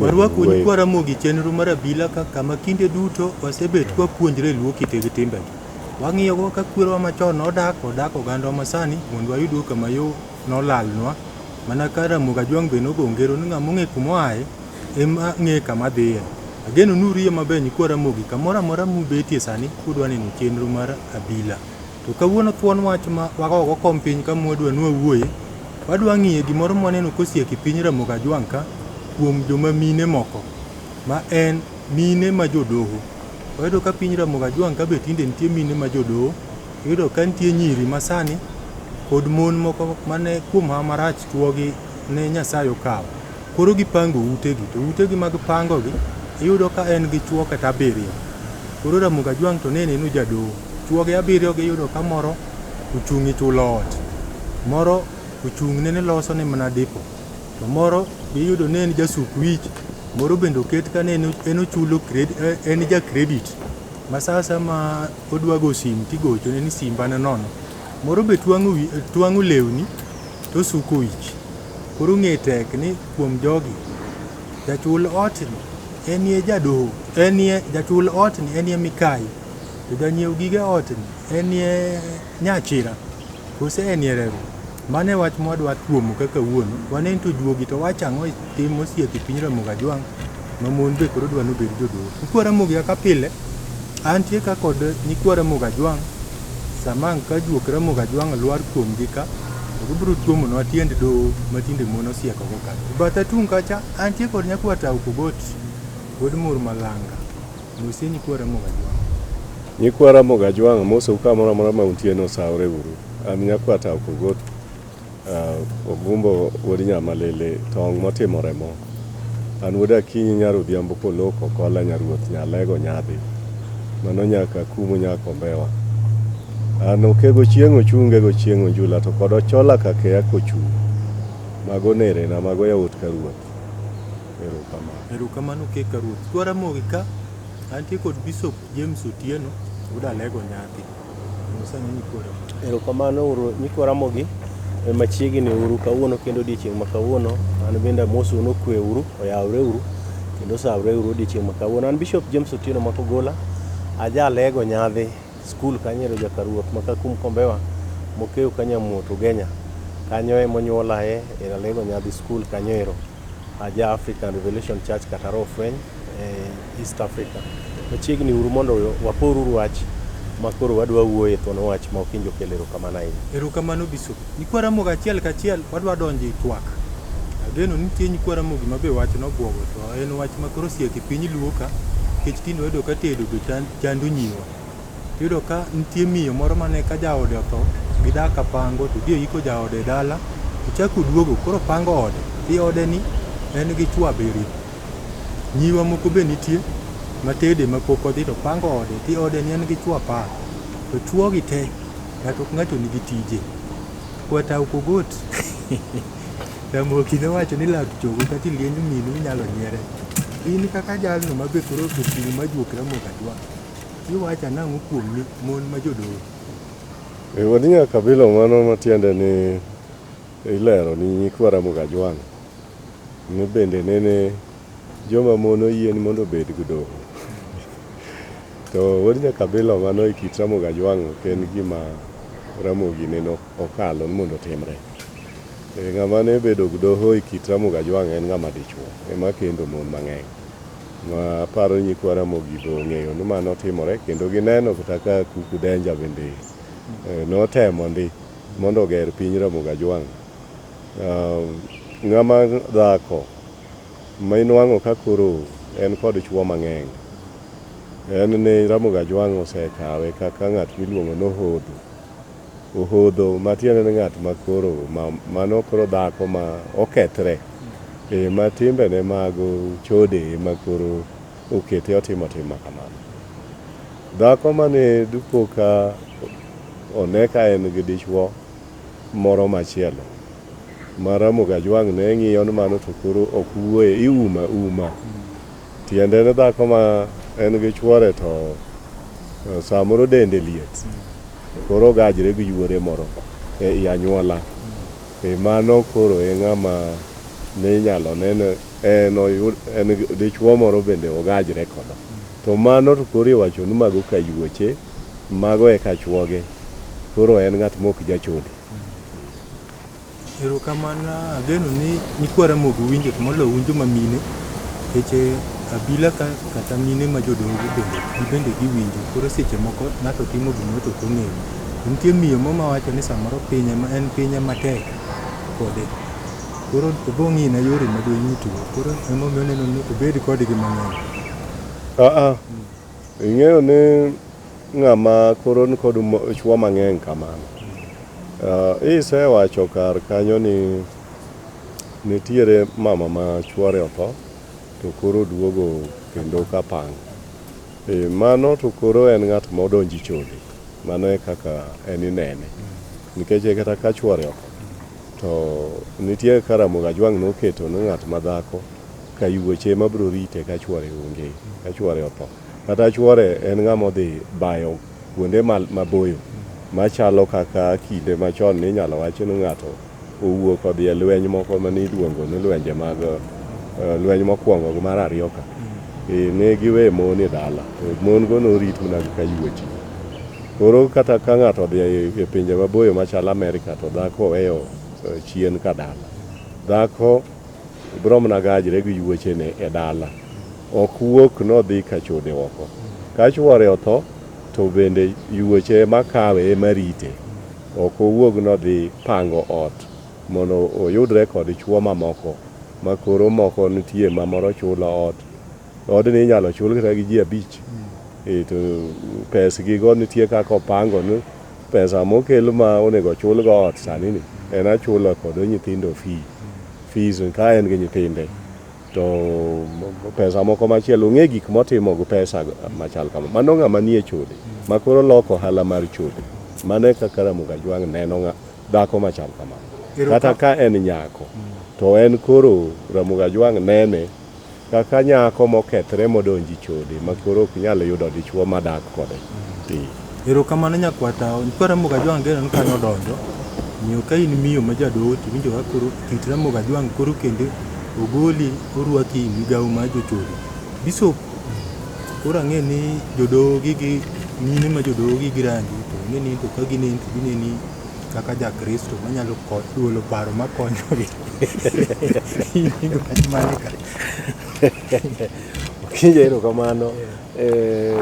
Warwako un kwa Ramogi chenro mar abila ka kama kinde duto wasebet kwa puonjre luo kite gi timbegi. Wang'iyogo ka kwerewa machon nodak odak oganda masani mondo wayudgo kama yo nolalnwa mana ka Ramogi Ajwang' be nogo ngero ni ng'ama ong'e kuma oaye Em ang'e kama adhiye. Ageno ni uriyo maber nyikwa Ramogi. Kamoro amora mubetie sani udwa neno chenro mar Abila. To kawuono thuon wach ma wago go kom piny kama wadwa ni wawuoye, wadwa ng'iye gimoro mwaneno kosiek e piny Ramogi Ajwang' ka kuom joma mine moko ma en mine ma jodoho. Wayudo ka piny Ramogi Ajwang' ka be tinde nitie mine ma jodoho. Iyudo ka nitie nyiri ma sani kod mon moko mane kuom hawa marach chuogi ne Nyasaye okawo. Koro gipango utegi to utegi mag pangogi iyudo ka en gi chuo kata abiriyo. Koro Ramogi Ajwang' to ne neno jadoho, chuoge abiriyogi iyudo ka moro ochung' e chulo ot, moro ochung' nene loso ne mana dipo, to moro be iyudo ne en jasuk wich, moro bende oket ka ne en ochulo en ja credit ma sa asaya ma odwa go sim tigochone ni simba ne nono. Moro be twang'o lewni. To suko ich. Koro ng'e tek ni kuom jogi, jachul otni enie jadoho, enie jachul otni enie mikayi, to janyiew gige otni enie nyachira, kose enie reru. Mano e wach mwadwa tuomo kaka wuonu. Waneni to juogi to wacho ang'o e tim mosieko e piny Ramogi Ajwang' ma mon be koro dwa nobed jodoho. Nyikwa Ramogi kaka pile, antie ka kod nyikwa Ramogi Ajwang'. Sama ang' ka juok Ramogi Ajwang' lwar kuomgi ka, to gibiro tuomonwa tiend doho ma tinde mon osiekogo ka. E batha tung' kacha, antie kod Nyakwa Tau Kogoti, wuod Mur Malanga. Mosie nyikwa Ramogi Ajwang'. Nyikwa Ramogi Ajwang' amosou kamoro amora ma untie ni osaworeuru. An Nyakwa Tau Kogoti. Ogumbo wuod Nyamalili, tong' motimo remo. An wuod Akinyi nyar Odhiambo kolok okola nya ruoth nya lego nyadhi. Mano nyak akumu nya kombewa. An okego chieng' ochunge go chieng' onjula to kod ochola kakeya kochung'. Mago nerena, mago yawuot ka ruoth. Erokamano. Erokamano okek ka ruoth. Jaramogi ka, antie kod Bishop James Otieno, wuod Alego Nyadhi. Erokamano uru nyikwa Ramogi e machiegni uru kawuono kendo odiechieng' ma kawuono an bende amosu ni okwe uru oyawre uru kendo osawre uru odiechieng' ma kawuono an Bishop James Otieno Makogola ajalego nyadhi skul kanyero jakaruoth ma Kakum Kombewa mokew Kanyamuot Ugenya kanyo e monyuolae e Alego Nyadhi skul kanyo ero aja African Revelation Church kata Rofweny e East Africa. Machiegni uru mondo wapor uru wach ma koro wadwa wuoye thuon wach ma okinjo kelo erokamano ahinya. Erokamano Bishop. Nyikwa Ramogi achiel kachiel wadwa donjo e twak. Ageno nitie nyikwa Ramogi ma be wach nobwogo to en wach ma koro siek e piny Luo ka nikech tinde wayudo ka tedo be chando nyiwa. Tiyudo ka nitie miyo moro mane ka jaode otho gidak ka pango to dhi oyiko jaode e dala to chako oduogo koro pango ode. Ti odeni en gi chwo abiriyo. Nyiwa moko be nitie matede mapok odhi to pango ode ti ode ni en gi chwo apar to chwogi te ng'ato ka ng'ato nigi tije kwata ok ogot Ramogi nowacho ni lak chogo kata iliend minu inyalo nyiere in kaka jalno ma be koro oseting' ma juok Ramogi ajwa iwacho anang'o kuom ni mon ma jodolo E, Wadinya kabilo mano matiende ni ilero ni nyikwa Ramogi Ajwang'. Ne bende nene joma mon oyien mondo obed gdoho. To wuod Nyakabilo mano e kit Ramogi Ajwang' ok en gima Ramogi nene okalo ni mondo otimre. E, ng'ama ne bedo gdoho e kit Ramogi Ajwang' en ng'ama dichuo ema kendo mon mang'eny. Ma aparo nyikwa Ramogi be ong'eyo ni mano timore kendo gineno kata ka Kuku Denja bende e, notemo ndi mondo oger piny Ramogi Ajwang'. Ng'ama dhako ma inwang'o ka koro en kod chwo mang'eny en ni Ramogi Ajwang' osekawe kaka ng'at miluongo ni ohodho. Ohodho matiende ni ng'at ma koro mano koro dhako ma okethre e ma timbene mag chode e ma koro okete otimo tim ma kamano. Dhako mane dipo ka one ka en gi dichwo. moro machielo ma Ramogi Ajwang' ne ng'iyo ni mano to koro ok wuoye, iumo auma. Tiende ni dhako ma en gi chwore to eh, samoro dende liet, koro ogajre gi yuore moro e i anyuola. E mano koro e ng'ama ne inyalo nene en oyud en gi- dichwo moro bende ogajre kodo. To mano to koro iwacho ni mago kayuoche. Mago eka chuoge. Koro en ng'at mok jachode. Erokamano ageno ni nyikwa Ramogi winjo to moloyo un joma mine nikech eh, abila ka kata mine ma jodongo bende gibende giwinjo koro seche moko ng'ato timo gimoro to ok ong'eyo To nitie miyo mo mawacho ni samoro piny ema en piny ema tek kode koro obong'ina yore ma donyutgo koro emomiyo oneno ni obed kodgi mang'eny Aa, Ing'eyo ni ng'ama koro nikod chuo mang'eny kamano, uh, isewacho kar kanyo ni nitiere mama ma chuore otho to koro duogo kendo ka pang. E, mano to koro en ng'at ma odonji chode, mano e kaka en inene. Nikech e kata ka chuore otho to nitie karamoga jwang' noketo ni ng'at ma dhako Kayuoche ema biro rite ka chwore onge, ka chwore otho. Kata chwore en ng'ama odhi bayo kuonde maboyo machalo kaka kinde machon ninyalo wachi ni ng'ato owuok odhi e lweny moko mane iluongo ni lwenje mag eh, lweny mokwongo gi mar ariyo ka mm. eh, ne giwe mon e dala to mon go norit mana gi kayuochi koro kata ka ng'ato odhi e pinje maboyo machalo Amerika to dhako oweyo eh, chien ka dala dhako Bromna gajre gi yuochene e dala, ok wuok nodhi ka chode oko. Ka chwore otho, to bende yuoche ema kawe ema rite. Ok owuog nodhi pango ot mondo oyudre kod chwo mamoko ma koro moko nitie ma moro chulo ot, Odni inyalo chul kata gi ji abich. Eh, to pesgigo nitie kaka opango ni pesa mokel ma onego ochul go ot sani ni en achulo kod nyithindo fee. Fees ka en gi nyithinde. To pesa moko machielo ong'e gik motimo gi pesa machal kama. Mano ng'ama nie chode ma koro loko ohala mar chode. Mano e kaka Ramogi Ajwang' neno ng'a, dhako machal kamano. Kata ka en nyako to en koro Ramogi Ajwang' nene Kaka nyako mokethre modonjo e chode ma koro ok nyal yudo dichwo ma dak kode. Erokamano nyakwata, nyikwar Ramogi Ajwang' Geno ni kanyo odonjo. Omiyo ka in miyo ma jadoho to iwinjo ka koro kit Ramogi Ajwang' koro kendo ogoli orwaki e migawo mar jochode. Bishop, koro ang'e ni jodoho gi gi mine ma jodoho gi gi rangi to ang'e ni to ka gineni to gineni kaka ja Kristo manyalo ko- duolo paro makonyogi. Kinja erokamano. Eh,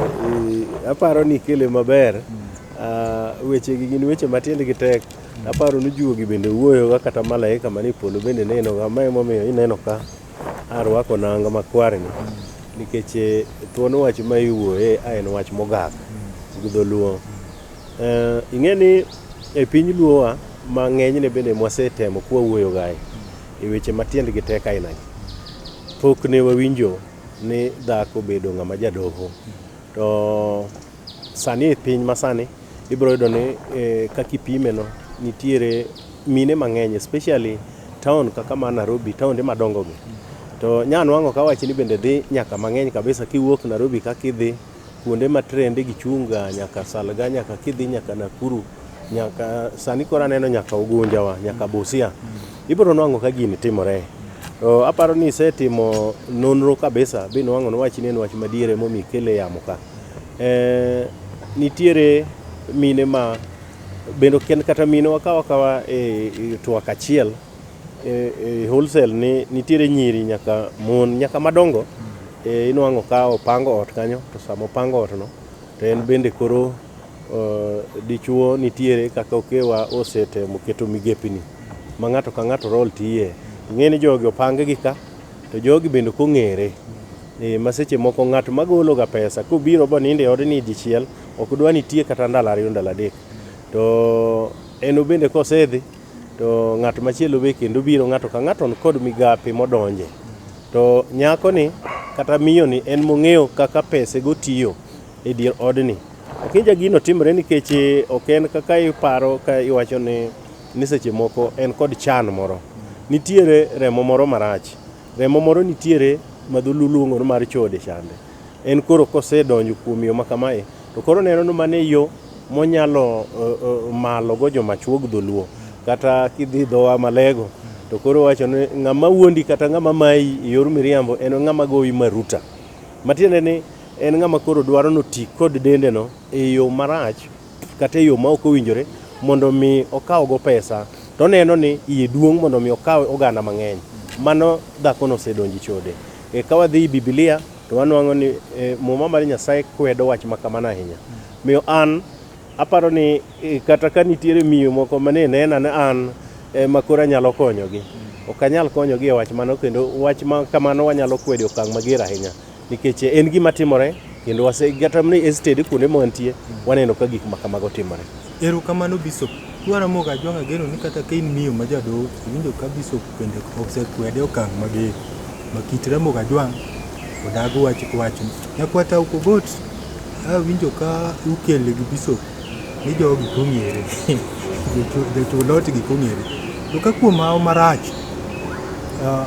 i- aparo ni ikele maber. Ah, wechegi gin weche matiendgi tek. Aparo ni juogi bende wuoyoga kata malaika manie polo bende nenoga. Ma emomiyo ineno ka arwako nanga makwarni. Nikech eh, thuon wach ma iwuoye a en wach mogak gi dholuo. Eh, ing'e ni e piny luowa ma ng'enyne bende mwasetemo kwawuoyo gae e weche ma tiendgi tek ainagi pok ne wawinjo ni dhako bedo ng'ama jadoho to sani e piny masani ibiro yudo ni eh, kaka ipimeno nitiere mine mang'eny especially town kaka ma Nairobi taonde madongogi to nyanwang'o kawachi ni bende dhi nyaka mang'eny kabisa kiwuok Nairobi kaka idhi kuonde ma trende gi chung' ga nyaka Salga nyaka kidhi nyaka Nakuru nyaka sani koro aneno nyaka Ugunja wa nyaka Busia ibiro nwango ka gini timore to aparo ni isetimo nonro kabisa bi nwango ni wach ni en wach madiere momi kele yamo ka eh, nitiere mine ma bendo ken kata mine wakawa kawa e, e twak achiel e, e wholesale ni nitiere nyiri nyaka mon nyaka madongo e, inwang'o ka opango ot kanyo to sama opango ot no to en bende koro uh, dichuo nitiere kaka okewa osetemo keto migepini ma ng'ato ka ng'ato rol tiye ing'e ni jogi opang gi ka to jogi bende ok ong'ere e, ma seche moko ng'at ma gologa pesa kobiro boninde odni dichiel ok dwa nitie kata ndalo ariyo ndalo adek to en obende kosedhi To ng'at machielo be kendo biro, ng'ato ka ng'ato nikod migape modonje. To nyakoni kata miyoni en mong'eyo kaka pesego tiyo e dier odni. Akinja gino timore nikech ok en kaka iparo ka iwacho ni, ni seche moko en kod chan moro. Nitiere remo moro marach, remo moro nitiere ma dholuo luongo ni mar chode chande. En koro kosedonjo kuom yo makamae to koro oneno ni mano e yo monyalo malogo jomachuog dholuo kata kidhi dho wa malego to koro owacho ni ng'ama wuondi kata ng'ama mayi e yor miriambo en ng'ama goyi maruta. Matiende ni en ng'ama koro dwaro ni oti kod dendeno e yo marach kata e yo ma ok owinjore mondo omi okawgo pesa to oneno ni iye duong' mondo omi okaw oganda mang'eny. Mano dhakono osedonjo e chode. E, ka wadhi i Biblia to wanwang'o ni e, Muma mar Nyasaye kwedo wach ma kamano ahinya. Miyo an aparo ni e, kata ka nitiere miyo moko ma ne nena ne an e, ma koro anyalo konyogi, ok anyal konyogi e wach mano kendo wach ma kamano wanyalo kwedo e okang' mager ahinya nikech e, en gima timore Kendo wase kata ni ested kuonde mwantie waneno ka gik ma kamago timore. Erokamano Bishop. Dwara moga ajwang' ageno ni kata ka in miyo ma jadoho, iwinjo ka Bishop bende osekwede okang' mager. Ma kit Ramogi Ajwang' odagi wach wacho. Nyakwata ok ogot, awinjo ka ukele gi Bishop ni jogi kong'ere. Jochul ot gi kong'ere. To ka kuom hawo marach, ah,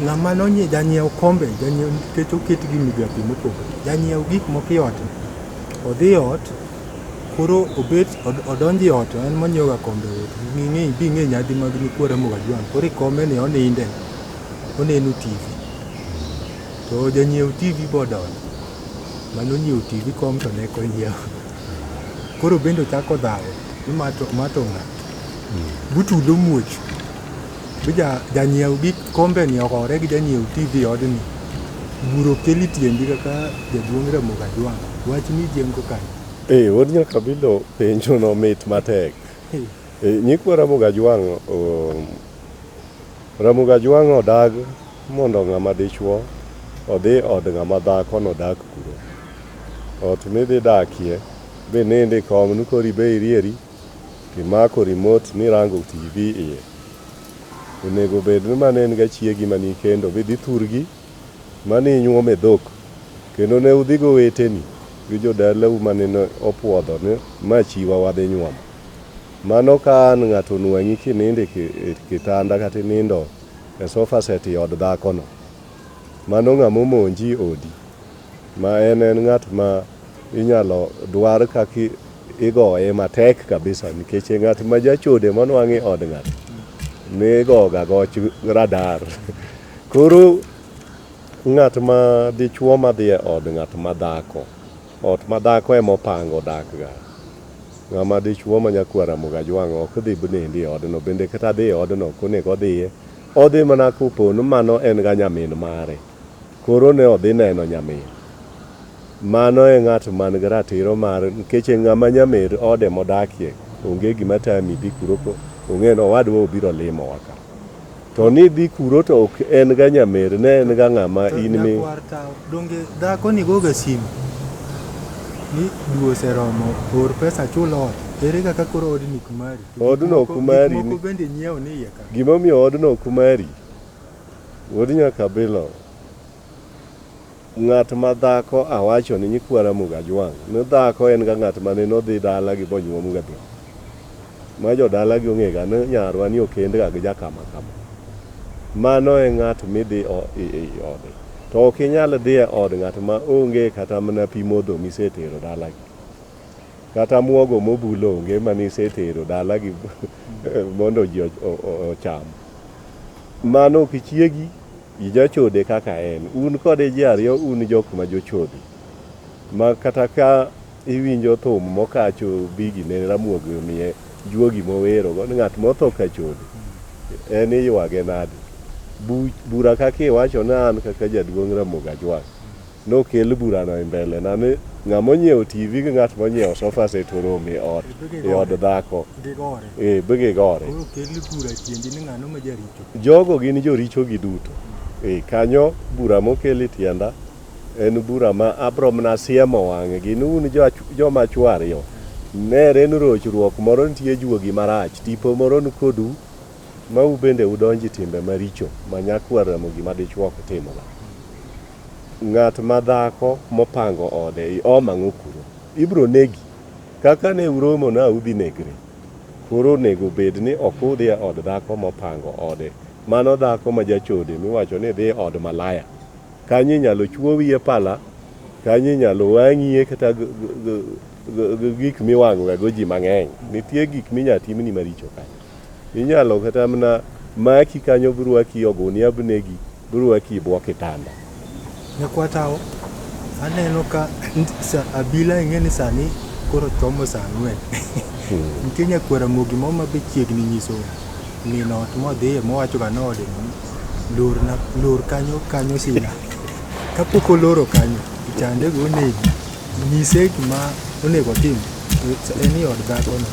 Ng'ama nonye janyiew kombe, janyiew nikech oket gi migapi mopogore. Janyiew gik moko e ot, odhi e ot koro obet od- odonjo e ot to en monyiewoga kombe e ot. Ng'e bi ng'e nyadhi mag nyikwara moga jwang'. Koro e kombeni oninde, oneno TV. To janyiew TV bodonjo, mane onyiewo TV kom to ne ok onyiewo. Koro bende ochako dhawo ni ma to ma to ng'a? Butulo muoch. Be ja- janyiew gik kombeni ohore gi janyiew TV odni? Buro keli tiendi kaka jaduong' Ramogi Ajwang'. Wach ni jengo kanyo. Eh, wuod Nyakabilo penjo no mit matek. Hey. Eh, nyikwa Ramogi Ajwang' um, Ramogi Ajwang' odag mondo ng'ama dichwo odhi od ng'ama dhako nodak kuro. Ot midhi dakie be nende kom ni koro ibe irieri Kimako remote mirango TV iye. Onego bed ni mano en ga chiegi ma nikendo midhi thurgi ma ninyuom e dhok kendo ne udhi goweteni gi jodalau ma nene opuodho ni ma chiwa wadhi nyuomo. Mano ka an ng'ato onwang'i kinindo e kitanda kata inindo e sofa set i od dhakono. Mano ng'ama omonji odi ma en en ng'at ma Inyalo dwar kaka igoye matek kabisa nikech ng'at ma jachode monwang' e od ng'ato nigoga goch radar. Koro ng'at ma dichwo madhi e od ng'at ma dhako, ot ma dhako ema opango odakga. Ng'ama dichwo ma nyakwar Ramogi Ajwang' ok dhi bnendi e odno bende kata dhi e odno ok onego odhiye. Odhi mana kopo ni mano en ga nyamin mare. Koro ne odhi neno nyamin. Mano e ng'at man gi ratiro mar nkeche ng'ama nyamir ode modakie onge gima tami dhi kuro ko ong'e ni owadwa obiro limowa ka. To ni idhi kuro to ok en ga nyamer ne en ga ng'ama To in mi nyakwar tawo, donge dhako ni goga simu? Ni dwe oseromo, or pesa achul ot. Ere kaka koro odni ok mari? To gik Odno moko- ok mari Gik moko ni- bende inyiewo ni iye ka. gimomiyo odno ok mari Wuod Nyakabilo, ng'at ma dhako awachoni nyikwa Ramogi Ajwang' ne dhako en ga ng'at ma nene odhi dalagi bonyuom ga dhok. Ma jodalagi ong'e ga ni nyarwa ni okend ga gi ja kama kama. Mano e ng'at midhi ei ode. To ok inyal dhi e od ng'at ma onge kata mana pi modho misetero dalagi. Kata muogo mobul onge mane isetero dala gi mondo ji ocham. Mano ok chiegi, ijachode kaka en. Un kode ji ariyo un jok ma jochode. Ma kata ka iwinjo thum mokacho bigi ne Ramogi omiye juogi mowerogo ni ng'at motho ka chode en iywage nade. Bura kaka iwacho ni an kaka jaduong' Ramogi ajwang', Nokel burano e mbelena ni ng'a monyiewo TV gi ng'at monyiewo sofa set orom e ot e od dhako. Gigore. Eh, be gigore. Koro kel bura tiendi ni ng'ano ma jaricho. Jogo gin joricho giduto. Eh, kanyo bura mokel e tienda en bura ma abro mana siemo wang'gi ni un jo- joma chwo ariyo nere ni rochruok moro nitie juogi marach tipo moro ni kodu ma ubende udonji timbe maricho ma nyakwar Ramogi ma dichwok timoga. Ng'at ma dhako mopango ode i oma ng'okuro, ibro negi. Kaka ne uromo na udhi negre, koro onego bed ni ok udhi e od dhako mopango ode. Mano dhako ma jachode miwacho ni dhi e od malaya. Kanyo inyalo chwowie pala, kanyo inyalo wang'ie kata gik miwang'oga go ji mang'eny. Nitie gik minya timni maricho kanyo. Inyalo kata mna maki kanyo brwaki ogunia bnegi brwaki ibwo kitanda. Nyakwa Tao, aneno ka sa abila ing'e ni sani koro chomo sa ang'wen. Nitie nyakwar Ramogi moro ma be chiegni nyiso min ot modhiye mowacho ga noode ni lorna lor kanyo kanyo sina. Kapok oloro kanyo, ichande go onegi. Nyise gima onego otim. En i od dhakono.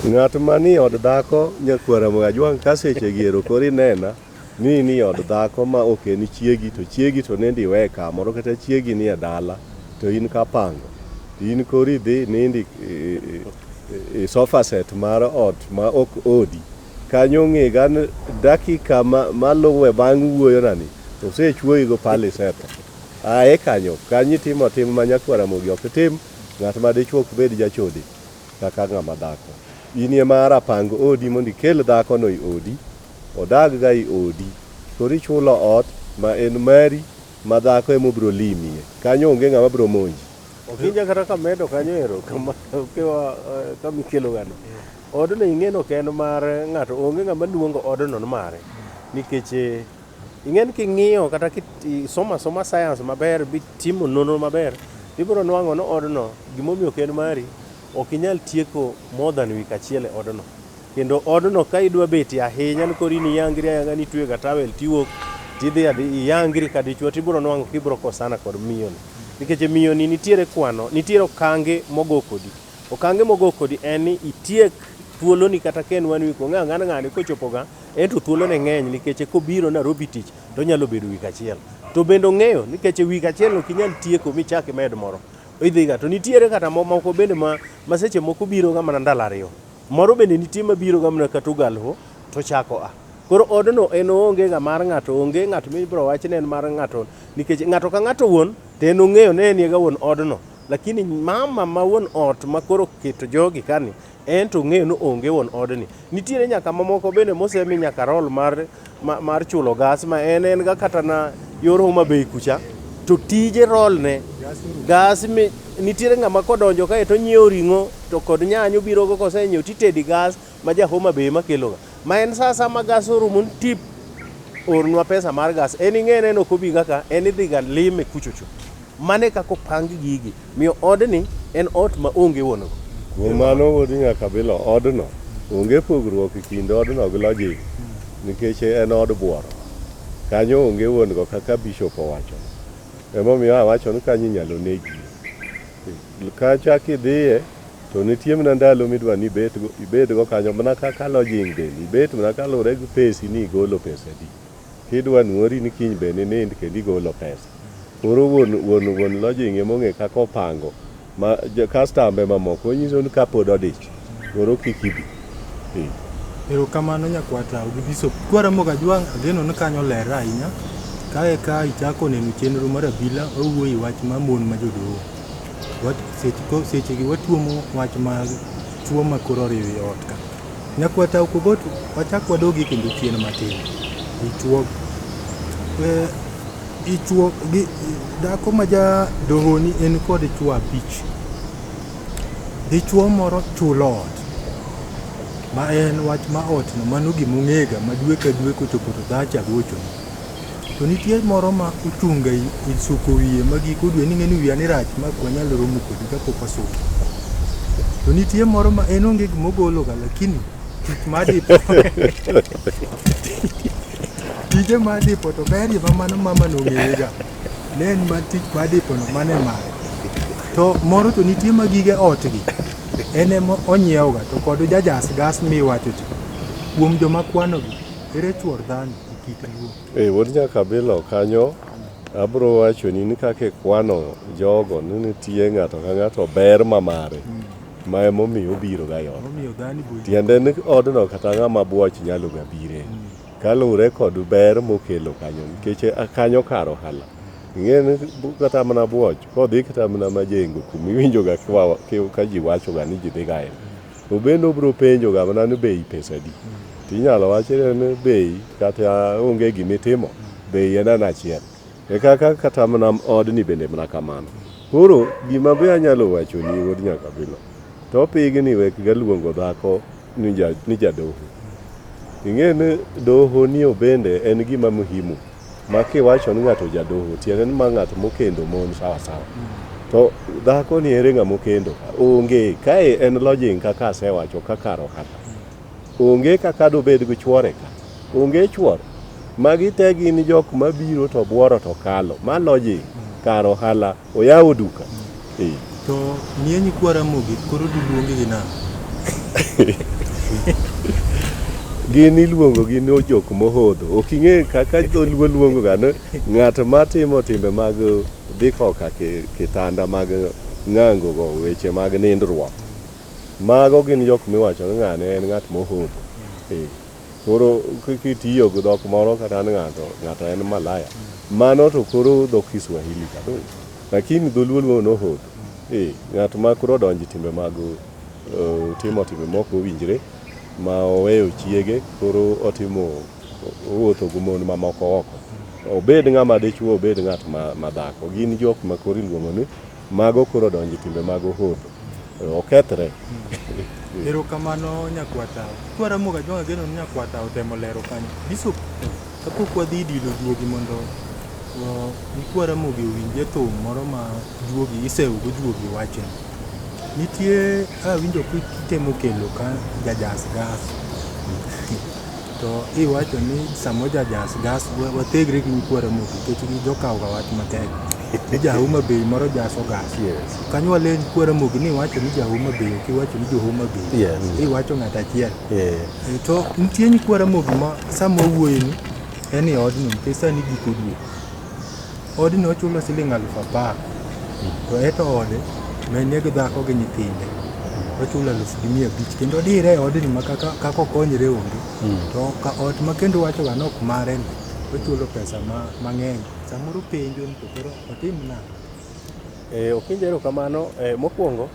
Ng'at mani od dhako nyakwar Ramogi Ajwang' ka sechegi ero koro inena ni in i od dhako ma ok en chiegi to chiegi to nende iwe kamoro kata chiegi ni e dala to in Kapango to in koro idhi nindi i sofa set mar ot ma ok odi kanyo ng'iga dakika maluwe bang' wuoyonani osechwoyigo pale setho. A e kanyo, ka nitimo tim ma Nyakwar Ramogi ok tim, ng'at ma dichwo ok bed jachode kaka ng'ama dhako. In e ma ara pang odi mondo ikel dhakono e odi, odagga e odi. Koro ichulo ot ma en mari ma dhako e ma obiro limie. Kanyo onge ng'ama biro monji. Okinja kata ka medo kanyo ero kama okewa kama ikelogano. Odno ing'e ni ok en mar ng'ato, onge ng'ama luongo odno ni mare nikech Ing'e ni king'iyo kata kisomo asoma science maber bitimo nonro maber ibiro nwang'o ni odno gimomiyo ok en mari ok inyal tieko more than week achiel e odno. Kendo odno ka idwa bete ahinya ni koro in iyangri ayanga ni itweyo ga towel tiwuok tidhi adhi iyangri ka dichwo tibiro nwang'o kibiro kosana kod miyoni. Nikech miyoni nitiere kwano, nitiere okange mogo kodi. Okange mogo kodi en ni itiek thuoloni kata ka en one week ong'e ang'ana ng'ani kochopoga en to thuolone ng'eny nikech kobiro Nairobi tich to onyalo bedo week achiel. To bende ong'eyo nikech week achiel ok inyal tieko michak imed moro. Idhiga to nitiere kata moko bende ma, ma seche moko biroga mana ndalo ariyo. Moro bende nitie ma biroga mana kata ogalho to chako a. Koro odno en oonge ga mar ng'ato, onge ng'at mibiro wachne en mar ng'ato nikech ng'ato ka ng'ato wuon to en ong'eyo ni en ga wuon odno. Lakini mama ma wuon ot ma koro keto jogi kani en to ong'eyo ni onge wuon odni. Nitiere nyaka mamoko bende mosemi nyaka rol mar, ma- mar chulo gas ma en en ga kata na yor Homa Bay kucha to tije rolne gas mi nitiere ng'ama kodonjo kae to onyiewo ring'o to kod nyanya obirogo kosenyiewo titedi gas ma ja Homa Bay ema keloga, ma en sa asaya ma gas orumo ni tip, ornwa pesa mar gas. En ing'e ni en ok obiga ka, en idhiga lime kuchocho. Mano e kaka opang gigi. Omiyo odni en ot ma onge wuon go. Kuom mano wuod Nyakabilo, odno onge pogruok e kind odno gi lodging nikech en od bworo. Kanyo onge wuon go kaka Bishop owacho. Emomiyo awacho ni kanyo inyalo negie. Kacha kidhiye, To nitie mna ndalo midwa ni ibedgo kanyo mna kaka lodging bende ibet mna kaluwore gi pesi ni igolo pesa adi. Kidwa nwori ni kiny be ninind kendo igolo pesa. Koro wuon lodging ema ong'e kaka opango ma kastambe mamoko onyiso ni ka pod odich koro kik ibi. Ee. Erokamano nyakwata Ogibiso. Kwaramogo Ajwang' ageno ni kanyo ler ahinya. Kae ka ichako neno chenro mar abila wawuoye wach ma mon ma jodoo. Sechegi watuomo wach mag tuo ma koro oriwo i ot ka. Nyakwa taw kogot wachak wadogi kendo chien matin. Ichuog eh, ichuog gi dhako ma ja dohoni en kod chwo abich. Dichwo moro chulo ot ma en wach ma otno mano gima ong'ega ma dwe ka dwe kochopo to dhacha gochoni. To nitie moro ma ochunga isuko wiye ma giko dwe ni ng'eni wiya ni rach ma ok wanyal romo kodi kapok wasuko. To nitie moro ma en onge gima ogolo ga lakini tich ma adipo. Tije ma adipo to berie ma mano mama nong'eye ga. Ne en ma tich ma adipo no mane mare. To moro to nitie ma gige otgi en ema onyiewo ga to kod jajas gas miwacho cha. Kuom joma kwano gi ere chuor dhano. Eh, wuod Nyakabilo kanyo abro wachoni ni kaka ikwano jogo ni nitie ng'ato ka ng'ato ber ma mare ma emomiyo obiro ga yot tiende ni odno kata ng'ama bwoch nyalo ga bire kaluwre kod ber mokelo kanyo nikech a- kanyo kar ohala ing'e ni bu- kata mana bwoch kodhi kata mana majengo kumiwinjoga kiwa- ki- ka ji wachoga ni ji dhiga e To bende obiro penjo ga mana ni bei pesa adi. To inyalo wach ni bei kata onge gima itimo, bei en an achiel. E kaka kata mana odni bende mana kamano. Koro gima be anyalo wachoni wuod nyakabilo, to pigni wek ga luongo dhako ni ja ni jadoho. Ing'e ni doho ni obende en gima muhimu. Ma kiwacho ni ng'ato jadoho, tiende ni ma ng'ato mokendo mon sawa sawa. To dhako ni ere ng'ama okendo? Onge. Kae en lodging kaka asewacho ka kar ohala. Onge kaka dobed gi chwore ka. Onge chwor. Magi te gin jok mabiro to buoro to kalo. Ma lodging, kar ohala. Oyawo duka. Eh. To nie nyikwa Ramogi koro diluongi gi nang'o? Gin iluongo gi ni jok mohodho. Ok ing'e kaka dholuo luongo ga ni ng'at matimo timbe mag dhi koka ki- kitanda mag ng'ango go weche mag nindruok. Mago gin jok miwacho ni ng'ane en ng'at mohodho. Eh. Koro kitiyo gi dhok moro kata an ng'ato ng'ato en malaya. Mano to koro dho Kiswahili ka. Lakini dholuo luongo nohod. Eh, ng'at ma koro odonjo timbe mag uh, timo timbe moko owinjre ma oweyo chiege koro otimo owuotho gi mon mamoko oko. Obed ng'ama dichwo obed ng'at ma, ma dhako. Gin jok ma koro iluongo ni Mago koro odonjo e timbe mag ohodho. Okethre. Erokamano nyakwata. Kwaramogo ajwang' ageno ni nyakwata otemo lero kanyo. Bishop, kapok wadhi e dilo juogi mondo uh, nyikwa Ramogi owinje thum moro ma juogi isewgo juogi wache. Nitie awinjo kitemo kelo ka jajas gas. To iwacho ni samo jajas gas wa- wathegre gi nyikwa Ramogi nikech gi jokawga wach matek. ni ja Homa Bay moro ja Sogas. Yes. Kanywa len kwara mogi ni iwacho ni ja Homa Bay ok iwacho ni jo Homa Bay. Yes. Iwacho ng'at achiel. Eh. E, to nitie nyikwara mogi ma sama wawuoye ni en e odni nikech sani giko dwe. Odni ochulo siling alufu apar to eto ode mene gi dhako gi nyithinde ochulo alufu gi mia abich kendo dire e odni ma kaka kaka okonyre onge to ka ot ma kendo wachoga ni ok mare ni ochulo pesa ma mang'eny Samoro penjo ni to koro otim nang'o? Eh, ok penjo erokamano. Eh, mokwongo,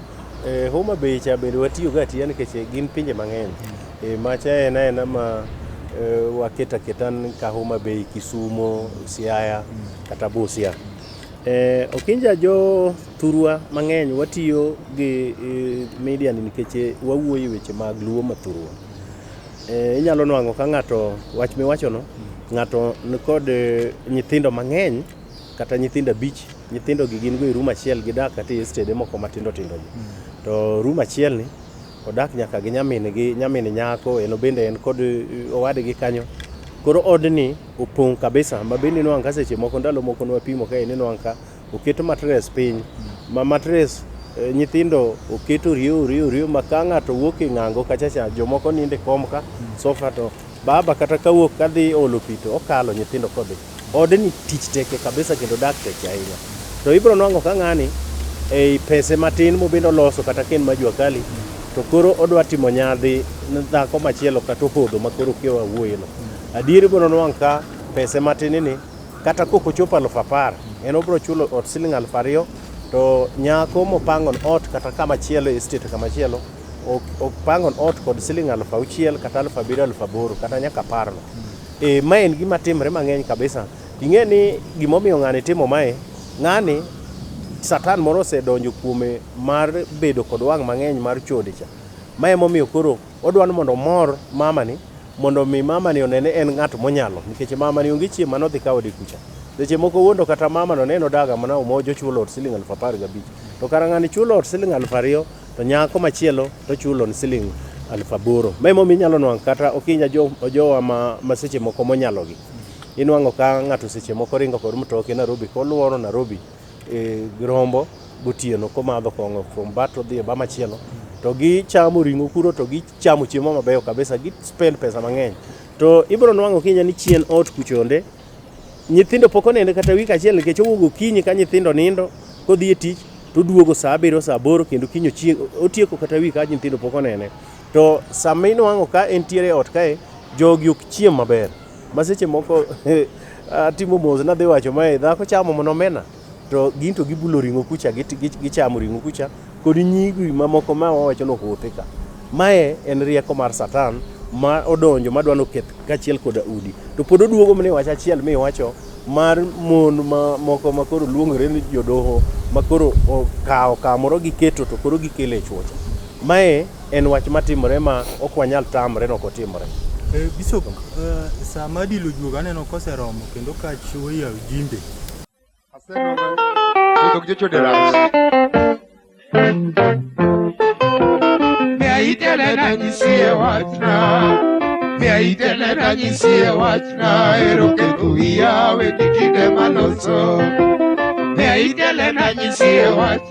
eh, Homa Bay cha bende watiyoga atiya nikech eh, gin pinje mang'eny. Eh, macha en aena ma eh, waketo aketa ni ka Homa Bay, Kisumo, Siaya kata Busia. Eh, Okinja jo thurwa mang'eny watiyo gi eh, media ni nikech eh, wawuoyo e weche mag Luo ma thurwa. Eh, inyalo nwang'o ka ng'ato wach miwachono ng'ato nikod eh, nyithindo mang'eny kata nyithindo abich nyithindo gi gin go e rum achiel gidak kata e stede moko matindo tindo gi hmm. to rum achiel ni odak nyaka gi nyamin gi nyamin nyako en bende en kod eh, owadgi kanyo koro odni opong' kabisa ma bende inwang' ka seche moko ndalo moko nwapimo ka en inwang' ka Oket matres piny ma matres eh, nyithindo oket oriyo oriyo oriyo ma ka ng'ato wuok e ng'ango kachacha jomoko ninde kom ka sofa to baba kata ka wuok kadhi olo pi to okalo nyithindo kodhi. Odni tich teke kabisa kendo dak teke ahinya. To ibiro nwang'o ka ng'ani ei pese matin mobende oloso kata ka en ma jua kali to koro odwa timo nyadhi ne dhako machielo kata ohodho ma koro kia wawuoyeno. Adier ibiro nwang' ka pese matin ni kata kok ochopo aluf apar en obiro chulo ot siling aluf ariyo to nyako mopangon ot kata kama chielo e state kama chielo ok- opangon ot kod siling aluf auchiel kata aluf abiriyo aluf aboro kata nyaka aparno e, ma en gima timre mang'eny kabisa ing'e ni gimomiyo ng'ani timo mae ng'ani satan moro osedonjo kuome mar bedo kod wang' mang'eny mar chode cha ma emomiyo koro Odwa ni mondo omor mamani mondo omi mamani one ni en ng'at monyalo nikech mamani onge chieng' mane odhi kawo dekucha. Seche moko wuondo kata mamano ne en odaga mana omojo ochulo ot siling alufu apar gabich. To kara ng'ani chulo ot siling alufu ariyo to nyako machielo to chulo ni siling alufu aboro. Ma emomiyo inyalo nwang' kata okinya jo, jowa ma, ma seche moko monyalogi. Inwang'o ka ng'ato seche moko ringo kod mtoke Nairobi koluoro Nairobi e, girombo gotieno komadho kong'o from bat odhi e ba machielo to gichamo ring'o kuro to gichamo chiemo mabeyo kabisa gi spend pesa mang'eny to ibiro nwang'o kinya ni chien ot kuchonde nyithindo pok onende kata wik achiel nikech owuogo kinyi ka nyithindo nindo kodhi e tich to duogo saa abiriyo saa aboro kendo kinyo chieng' otieko kata wik ka nyithindo pok onene to sama inwang'o ka entiere e ot kae jogi ok chiem maber ma seche moko atimo mos nadhi wacho mae dhako chamo mana omena to gin to gibulo ring'o kucha git- gi- gichamo ring'o kucha kod nyigi mamoko ma wawacho ni ohuthi ka mae en rieko mar satan ma odonjo ma dwa noketh kaachiel koda udi to pod oduogo mne wach achiel miwacho mar mon ma moko ma koro luongore ni jodoho ma koro okawo kamoro giketo to koro gikele chuocha mae En wach matimore ma ok wanyal tamre ni ok otimore. Eh, Bishop, eh, saa ma dilo juoga aneno koseromo kendo ka chiwo yaw jimbe. Miaitele na nyisie wachna Miaitele na nyisie wachna Ero keto wiya we kitinde maloso Miaitele na nyisie wachna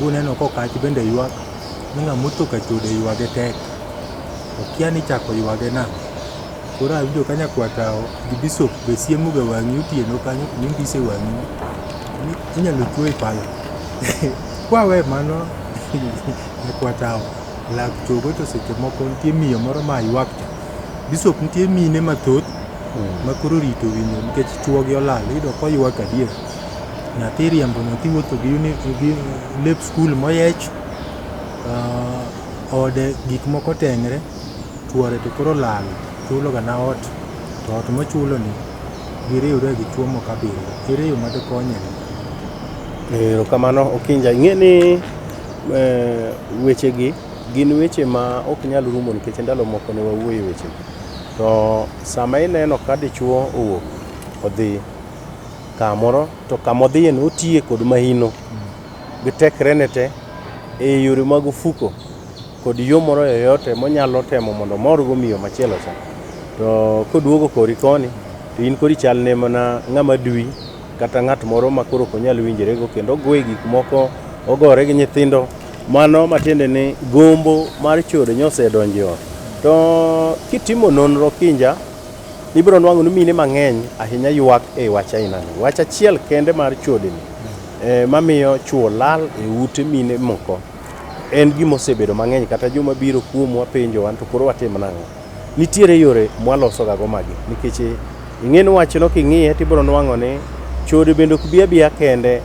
Buneno kokach bende ywak ni ng'ama otho ka chode ywage tek. Okia ni ichako ywage nang'o. Koro awinjo ka nyakwa tawo gi bisop be siemo ga wang'i otieno kanyo kuma indise wang'i ni inyalo chuoyi pala. Kwawe mano nyakwa tawo lak chogo to seche moko nitie miyo moro ma ywak cha. Bisop nitie mine mathoth ma koro orito winjo nikech chuogi olal iyudo koywak adier. Nyathi riembo nyathi wuotho gi uni gi lep skul moyech, ah, ode gik moko oteng're, chwore to koro olal, chulo gana ot, to ot mochuloni giriwre gi chwo moko abiriyo. Ere yo ma dokonyego? Erokamano Okinja. Ing'e ni eh, wechegi gin weche ma ok nyal rumo nikech ndalo moko ne wawuoye wechegi. To sama ineno ka dichuo owuok odhi kamoro to kama odhiye no otiye kod mahino gi tekrene te e yore mag ofuko kod yo moro yoyote monyalo temo mondo omorgo miyo machielo cha to koduogo kori koni to in kori chalne mana ng'ama dwi kata ng'at moro ma koro ok onyal winjorego kendo ogoye gik moko ogore gi nyithindo mano matiende ni gombo mar chode nyosedonjo e ot to kitimo nonro kinja ibiro nwang'o ni mine mang'eny ahinya ywak e wach ainani. Wach achiel kende mar chodeni eh, mamiyo chuo lal e ute mine moko en gima osebedo mang'eny kata joma biro kuomwa penjo wan to koro watim nang'o. Nitiere yore mwalosogago magi nikech eh, ing'e ni wachno king'iye to ibiro nwang'o ni chode bende ok bi abiya kende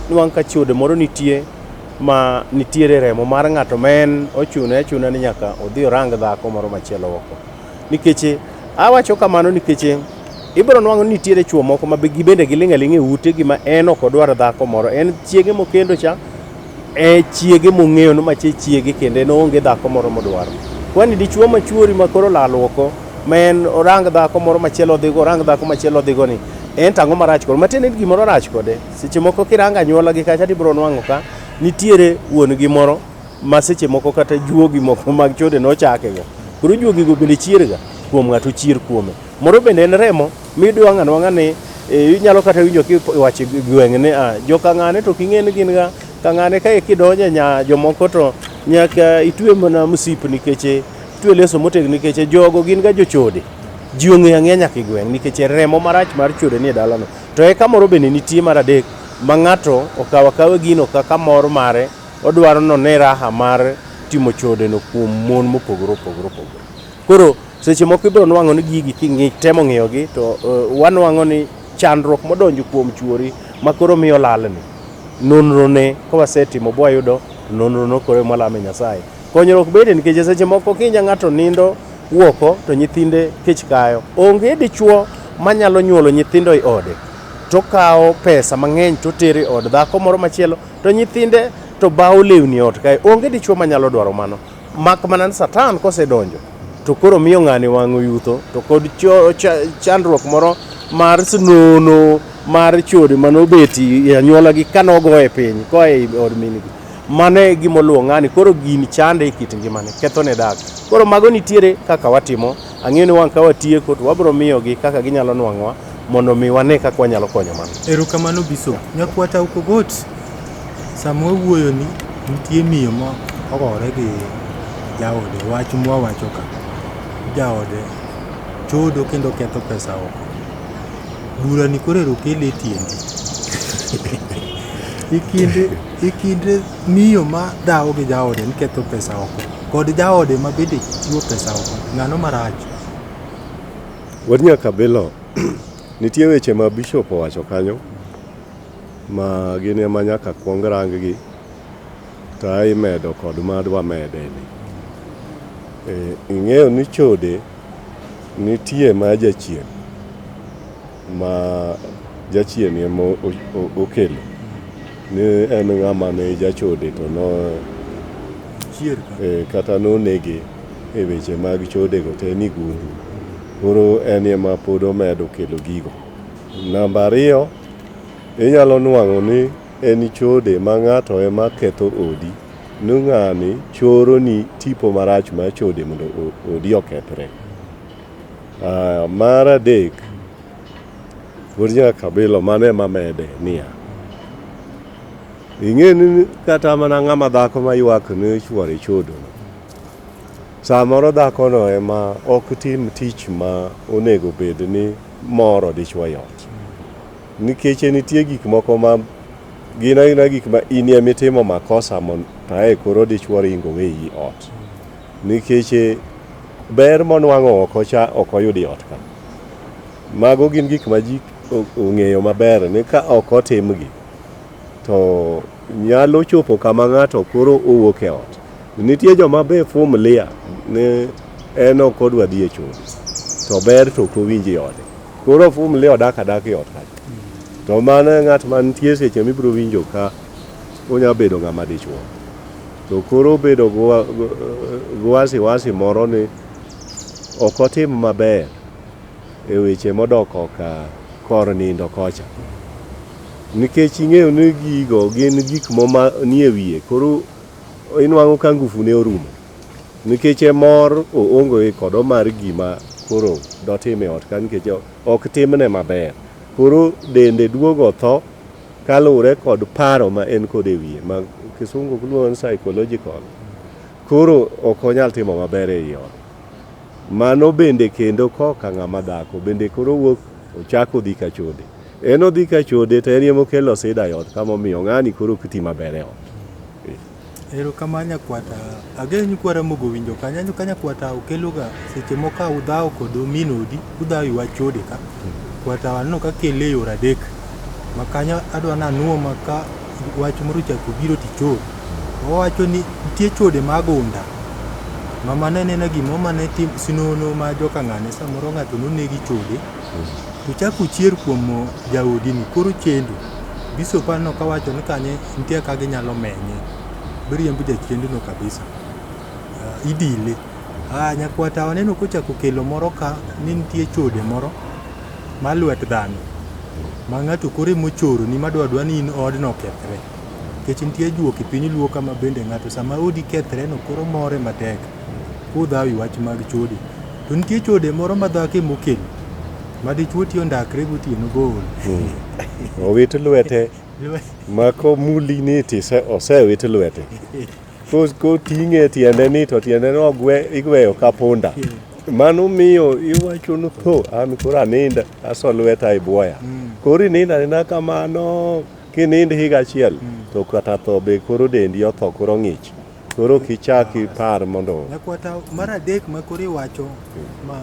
nwang' ka chode moro nitie ma nitiere remo mar ng'ato ma en ochune achuna ni nyaka odhi orang dhako moro machielo oko. Nikech awacho kamano nikech ibiro nwang'o ni nitiere chwo moko ma gibende giling' aling' e ute gi ma en ok odwar dhako moro. En chiege mokendo cha, e chiege mong'eyo ni ma chiege kendo en oonge dhako moro modwaro. Kwani dichwo ma chwori ma koro olal oko ma en orang dhako moro machielo odhigo, orang dhako machielo odhigo ni, en to ang'o marach kode? Matiende ni gimoro rach kode. Seche moko kirang'o anyuola gi kacha tibiro nwang'o ka nitiere wuon gi moro ma seche moko kata juogi moko mag chode nochakega. Koro juogigo bende chierga kuom ng'ato chier kuome. Moro bende en remo miyudo wang' anwang'a ni e, inyalo kata winjo kiwacho gweng' ni ah, jo kang'ane to king'e ni gin ga kang'ane kae kidonje nya jomoko to nyaka itwe mana msip nikech e, itwe leso motegno nikech e, jogo gin ga jochode ji ong'eyo ang'eya nyaka e gweng' nikech e, remo marach mar chode ni e dalano to eka moro bende nitie mar adek ma ng'ato okawo akawa gino kaka mor mare Odwaro ni one raha mar timo chodeno kuom mon mopogore opogore opogore. Koro seche moko ibiro nwang'o ni gigi kitemo ng'iyogi to uh, wanwang'o ni chandruok modonjo kuom chuori ma koro miyo lalni nonrone ka wasetimo bwayudo to nonrono koro ema lame Nyasaye. Konyruok bede nikech seche moko kinya ng'ato nindo wuoko to nyithinde kech kayo. Onge dichuo manyalo nyuolo nyithindo e ode tokawo pesa mang'eny totere od dhako moro machielo to nyithinde to bawo lewni ot kae. Onge dichwo manyalo dwaro mano. Mak mana ni Satan kosedonjo to koro miyo ng'ani wang'o yutho to kod cho- cha- chandruok moro mar snono mar chode mane obeti e anyuolagi kane ogo e piny koa e od mingi. Mano e gima oluwo ng'ani koro gini chande e kit ngimane, kethone dak. Koro mago nitiere kaka watimo Ang'eyo ni wang' ka watieko to wabiro miyogi kaka ginyalo nwang'owa mondo mi wane kaka wanyalo konyo mano. Erokamano Bishop. Nyakwata Ukogot, sama wawuoyoni nitie miyo ma ogore gi jaode wach mwawacho ka. Jaode chodo kendo ketho pesa oko. Burani koro ero kele e tiendi. E kind E kind miyo ma dhawo gi jaode ni ketho pesa oko kod jaode ma bende chiwo pesa oko, ng'ano marach? Wuod Nyakabilo, nitie weche ma bishop owacho kanyo ma gin ema nyaka kwong rang gi to ae imedo kod ma adwa mede ni. E, ing'eyo ni chode nitie ma jachien. ma jachien ema okelo ni en ng'ama ne jachode to no e, kata nonege e weche mag chodego te ni gundu koro en ema pod omedo kelo gigo namba ariyo inyalo nwang'o ni en chode ma ng'ato ema ketho odi ni ng'ani choro ni tipo marach ma chode mondo odi okethre Aya, mar adek, pod nyaka kabilo mano ema mede niya, ing'e ni kata mana ng'ama dhako ma ywak ne chuore chodo, samoro dhakono ema ok tim tich ma onego bed ni moro dichwo e ot. Nikech nitie gik moko ma gin aina gik ma in emitimo makosa mon- to ae koro dichwo ringo weyi ot. Nikech eh, ber monwang'o oko cha ok oyud e ot ka. Mago gin gik ma ji ong'eyo maber ni ka ok otimgi to nyalo chopo kama ng'ato koro owuok e ot. Nitie joma be fumlia ni en ok odwa dhi e chode to ber to ok owinj e ode. Koro fumlia odak adaka e ot kacha. To mano e ng'at mantie seche mibiro winjo ka onya bedo ng'ama dichwo. To koro obedo gi wasiwasi moro ni ok otim maber e weche modok oka kor nindo kocha. Nikech ing'eyo ni gigo gin gik moma nie wiye, koro inwang'o ka ngufu ne orumo. Nikech e mor oonge kodo mar gima koro dotim e ot ka nikech ok timne maber. Koro dende duogo tho kaluwore kod paro ma en kod e wiye ma kisungu luongo ni psychological, koro ok onyal timo maber e i ot. Mano bende kendo koka ng'ama dhako bende koro wuok ochako dhi ka chode. En odhi ka chode to en ema okelo sida e ot kama omiyo ng'ani koro ok ti maber e ot. Erokamano nyakwata, ageno ni kwa Ramogi owinjo kanyo. Aneno ka nyakwata okeloga seche moko ka udhawo kod min odi, udhawo e wach chode ka. Kwata aneno ka kele e yore adek. Ma kanyo adwa ni anuo ma ka wach moro ochako biro tichode. Owacho ni nitie chode ma gunda, ma mano anena gimoro mane tim, sinono ma joka ng'ane samoro ng'ato noneg gi chode. To chak uchier kuom jaodi ni koro chendu. Bishop aneno ka wacho ni kanye nitie ka ginyalo menye. Biriembo jachendu no kabisa. Uh, idile. Ah, nyakwata waneno kochako kelo moro ka ni nitie chode moro ma lwet dhano. Ma ng'ato kore mochoro ni madwa dwa ni in odno kethre. Kech nitie juok e piny luo kama bende ng'ato sama odi kethre no koro more matek. Kudhawi wach mag chode. To nitie chode moro ma dhako ema okelo ma dichwo tiyo ndakre gotieno bool. Owit lwete ma komuli ni to ise- osewit lwete. Ko- Koting'e tiende ni to tiende no ogwe- igweyo ka punda. Mano miyo iwacho ni tho an koro aninda aso lweta e bwoya. Koro ininda anina kamano kinind higa achiel to kata tho be koro dendi otho koro ng'ich. Koro ok ichak ipar mondo Nyakwata mar adek ma koro iwacho ma,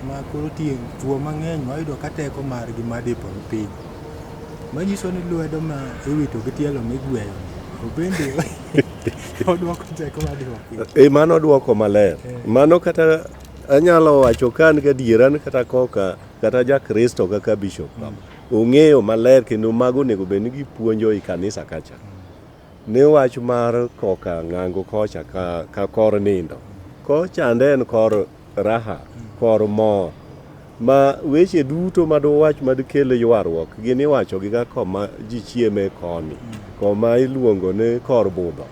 ma koro tie chwo mang'eny ma yudo ka teko margi ma dipo ni piny. Manyiso ni lwedo ma iwito gi tielo migweyo to bende odwoko teko ma dipo piny. e mano dwoko maler. Mano kata anyalo wacho ka an gadiera ni kata koka kata ja Kristo kaka bishop kama, ong'eyo maler kendo mago onego bed ni gipuonjo i kanisa kacha. Ni wach mar koka ng'ango kocha ka, ka kor nindo. Kor chande en kor raha, kor mor. Ma weche duto ma duwach ma dikel ywaruok gin iwachogiga koma ji chieme koni, koma iluongo ni kor budho.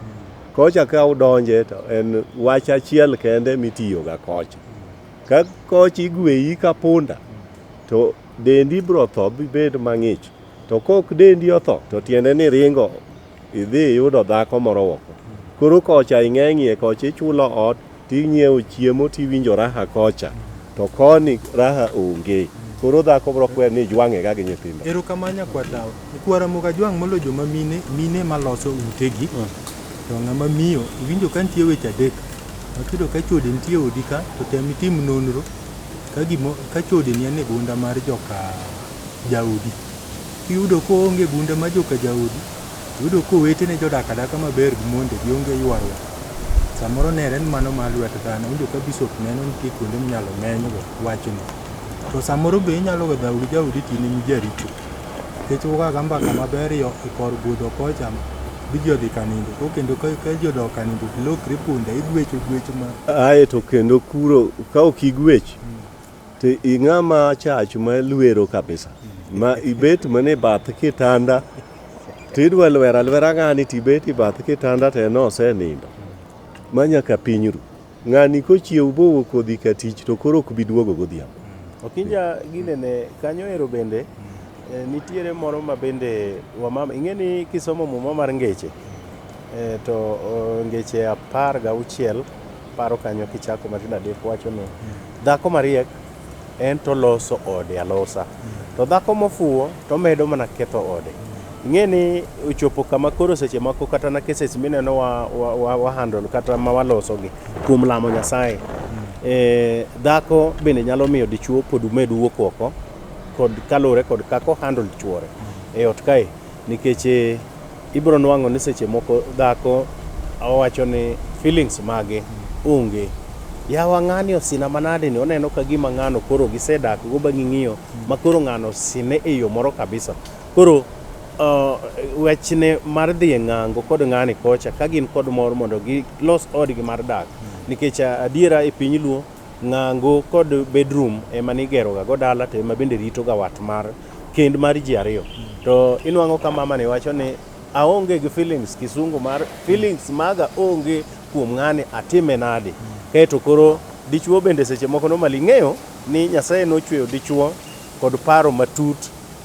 Kocha ka udonje to en wach achiel kende mitiyoga kocha. Ka kocha igweyi ka punda to dendi biro tho bibed mang'ich. To kok dendi otho to tiende ni ringo idhi iyudo dhako moro woko. Koro kocha ing'eng'ie kocha ichulo ot ting'iewo chiemo tiwinjo raha kocha to koni raha onge. Koro dhako bro kwer ni ijwang'e ga gi nyithindo. Erokamano nyakwar dawa. Nyakwar Ramogi ajwang' molo joma mine, mine maloso utegi. To ng'ama miyo, iwinjo ka nitie weche adek. Makido ka chode nitie e odi ka, to tem itim nonro ka gimo, ka chode ni e gunda mar joka jaodi. Kiyudo koonge gunda ma joka jaodi, iyudo kowetene jodak adaka maber gi mondegi onge ywaruok. Samoro nere ni mano mar lwet dhano, winjo ka bishop neno nitie kuonde minyalo menygo wachni. To samoro be inyalo we dhaodi jaodi tini ni jaricho. Nikech ugaga mbaka maber yo e kor budho kocha bi ji odhi kanindo. Ko kendo ka ka ji odok kanindo to ilokri punda, igwecho gwecho ma Ae to kendo kuro ka ok igwech, To ing'ama achach ma lwero kabisa ma ibet mana e bath kitanda to idwa lwero alwera ng'ani to ibet e bath kitanda to en osenindo ma nyaka piny ru. Ng'ani kochiew bowo kodhi ka tich to koro ok bi duogo godhiambo. Okinja ginene kanyo ero bende eh, nitiere moro ma bende wamama ing'e ni kisomo muma mar ngeche eh, to oh, ngeche apar gauchiel Paro kanyo kichako matindo adek wacho ni dhako mariek en to loso ode alosa to dhako mofuwo to medo mana ketho ode. Ing'e ni ochopo kama koro seche moko kata na cases mineno wa, wa, wa, wa handle kata ma walosogi kuom lamo Nyasaye e, dhako bende nyalo miyo dichuo pod med wuok oko kod kaluwore kod kako handle chuore e ot kae nikech e, Ibiro nwang'o ni seche moko dhako owacho ni feelings mage onge. Yawa ng'ani osina manade ni oneno ka gima ng'ano koro gisedak go ba ging'iyo ma koro ng'ano osine e yo moro kabisa. Koro uh, wechne mar dhi e ng'ango kod ng'ani kocha ka gin kod mor mondo gilos odgi mar dak nikech uh, adiera e piny luo Ng'ango kod bedroom ema nigero ga go dala to ema bende rito ga wat mar kend mar ji ariyo. To inwang'o ka mama ni wacho ni aonge gi feelings kisungu mar feelings maga onge kuom ng'ani atime nadi. Kaeto koro dichuo bende seche moko normally ing'eyo ni Nyasaye nochweyo dichuo kod paro matut